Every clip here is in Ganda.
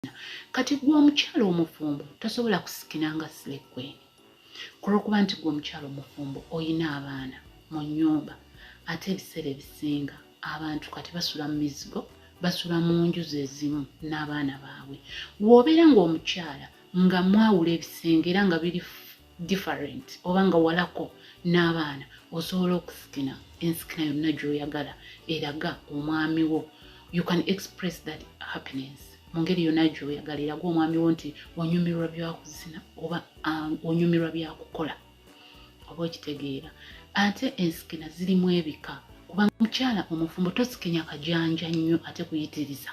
kusikina kati gwe omukyalo omufumbo tosobola kusikina nga silekweni kulwokuba nti gwe omukyalo omufumbo oyina abaana mu nyumba ate ebiseera ebisinga abantu kati basula mu mizigo basula mu nju zezimu n'abaana baabwe woobeera ngaomukyala nga mwawula ebisenge era nga biri different oba nga walako n'abaana osobola okusikina ensikina yonna gy'oyagala eraga omwami wo you can express that happiness mu ngeri yonna gy'oyagala eraga omwami wo nti onyumirwa byakuzina oba um, onyumirwa byakukola oba okitegeera ate ensikina zirimu ebika kubanga mukyala omufumbo tosikinya kajanja nnyo ate kuyitiriza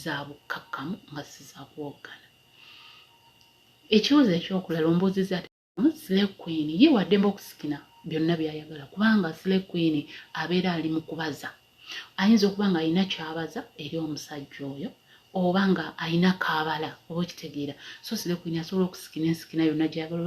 za bukkakkamu nga si za kuwoggana ekibuuzo ekyokulala ombuuziza ati sile queen ye waddemba okusikina byonna byayagala kubanga sile queen abeera ali mu kubaza ayinza okuba nga alina kyabaza eri omusajja oyo oba nga alina kabala oba okitegeera so sile queen asobola okusikina ensikina yonna gyayagala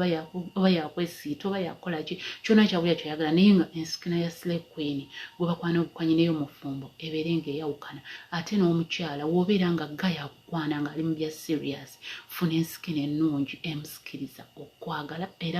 oba yakwesiita oba yakukola ki kyona kyabulya kyayagala naye nga ensikina ya sile queen gwebakwana obukwanyi neyo mufumbo ebeere ng'eyawukana ate n'omukyala woobeera nga ga yakukwana ng'ali mu bya siriyasi funa ensikino ennungi emusikiriza okukwagala era